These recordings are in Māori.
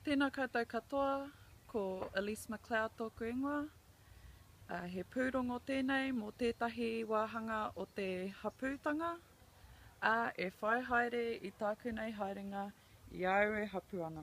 Tēnā koutou katoa, ko Elise McLeod tōku ingoa. He pūrongo tēnei mō tētahi wāhanga o te hapūtanga, ā, e whai haere i tāku nei haerenga i a au e hapū ana.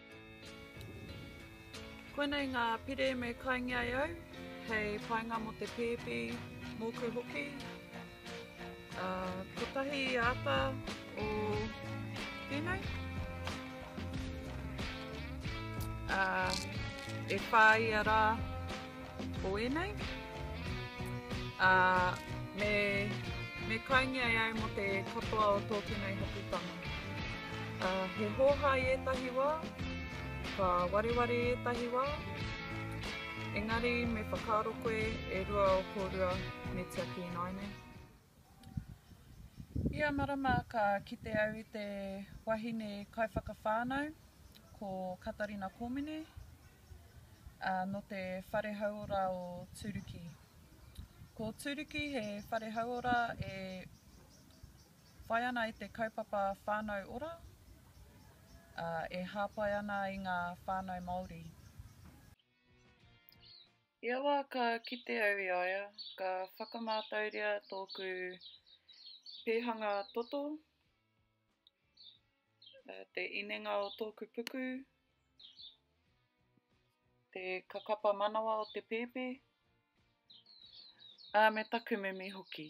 Koinei ngā pire me kaingi ai au, hei painga mo te pēpi, mōku hoki. Uh, kotahi ata o tēnei. Uh, e whāia rā, o ēnei. Ā, me, me kaingia e au mō te katoa o tōku nei haputanga. Ā, he hōhā i ētahi wā, ka wareware i ētahi wā, engari me whakaaro koe e rua o kōrua me tiaki ināianei. Ia marama ka kite au i te wahine kaiwhakawhānau, ko Katarina Kōmine, ā, nō te Whare Hauora o Tūruki. Ko Tūruki he whare hauora e whai ana i te kaupapa whānau ora, ā, e hāpai ana i ngā whānau Māori. I aua ka kite au i a ia, ka whakamātauria tōku pēhanga toto, te inenga o tōku puku, te kakapa manawa o te pēpi, ā, me taku mimi hoki.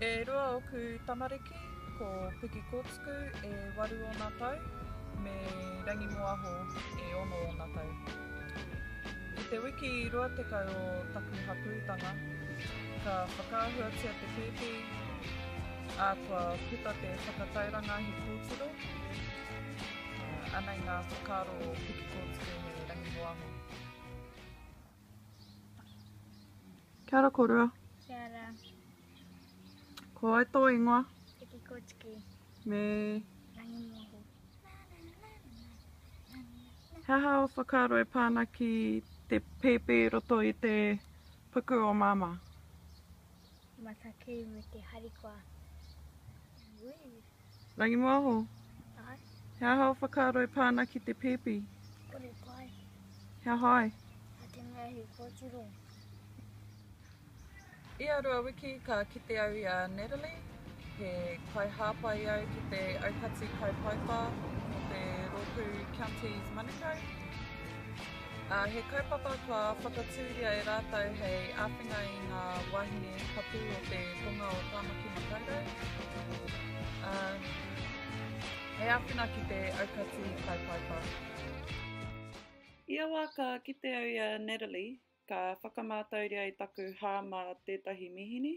E rua oku tamariki, ko Piki Kōtuku e waru ōna tau, me Rangi Moaho e ono ōna tau. I te wiki rua tekau o taku hapūtanga, ka whakaahuatia te pēpi, ā, kua puta te whakatauranga he kōtiro, ā, anei ngā whakaaro o Piki Kōtuku me Rangi Moaho. Kia ora korua. Kia ora. Ko ai tō ingoa? Tiki Kotiki. Me? Rangi Moho. He aha o whakaaro e pāna ki te pēpē roto i te puku o māmā? Matakei me te harikoa. Ui. Rangimōho. Aye. He aha o whakaaro e pā ana ki te pēpi? Kore pai. He aha ai? Nā te mea he kōtiro. I a rua wiki ka kite au i a Natalie, he kaihāpai au ki te aukati kaipaipa mō te rōpū Counties Manukau. ā, he kaupapa kua whakatūria e rātou hei āwhina i ngā wāhine hapū o te tonga o Tāmaki Makaurau, ā, hei āwhina ki te aukati kaupaipai. Ia wā ka kite au i a Natalie, ka whakamātauria i taku hā mā tētahi mīhini,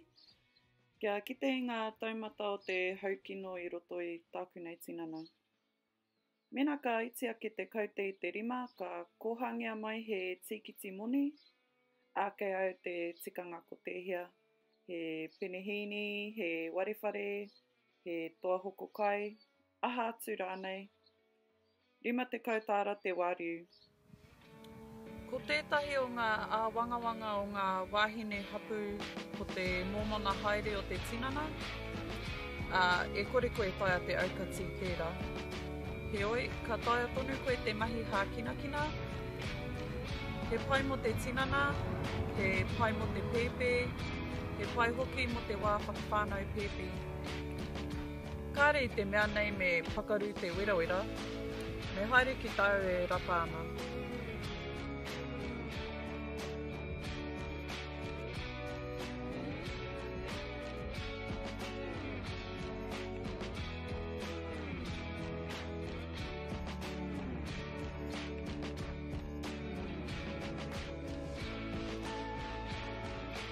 kia kite i ngā taumata o te haukino i roto i tāku nei tinana. Mēnā ka iti ake te kaute i te rima, ka kōhangea mai he tīkiti moni, ākei au te tikanga ko tēhea, he penehīni, he warewhare, he toa hoko kai, aha atu rānei. Rima tekau tāra te wāriu, Ko tētahi o ngā āwangawanga o ngā wāhine hapū ko te mōmona haere o te tinana, ā, e kore koe e taea te aukati tērā. Heoi, ka taea tonu koe te mahi hākinakina, he pai mō te tinana, he pai mō te pēpē, he pai hoki mō te wā whakawhānau pēpi. Kāre i te mea nei me pakaru te werawera, me haere ki tāu e rata ana.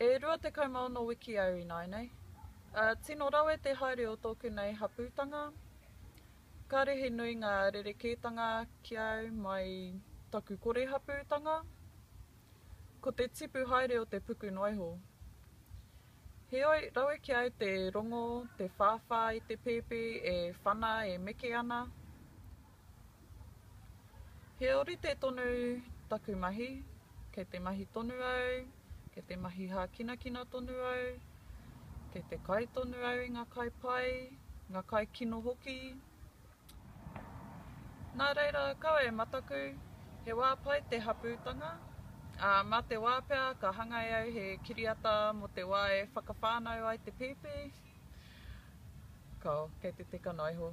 E rua tekau maono wiki au ināinei. Tino rawe te haere o tōku nei hapūtanga. Kāre he nui ngā rerekētanga ki au mai taku kore hapūtanga. Ko te tipu haere o te puku noaiho. Heoi, rawe ki au te rongo, te whāwhā i te pēpi e whana, e meke ana. He orite tonu taku mahi, kei te mahi tonu au, kei te mahi hākinakina tonu au, kei te kai tonu au i ngā kai pai, ngā kai kino hoki. Nā reira, kaua e mataku, he wā pai te hapūtanga, ā, mā te wā pea ka hangai au he kiriata mō te wā e whakawhānau ai te pēpi, kao, kei te teka noa iho.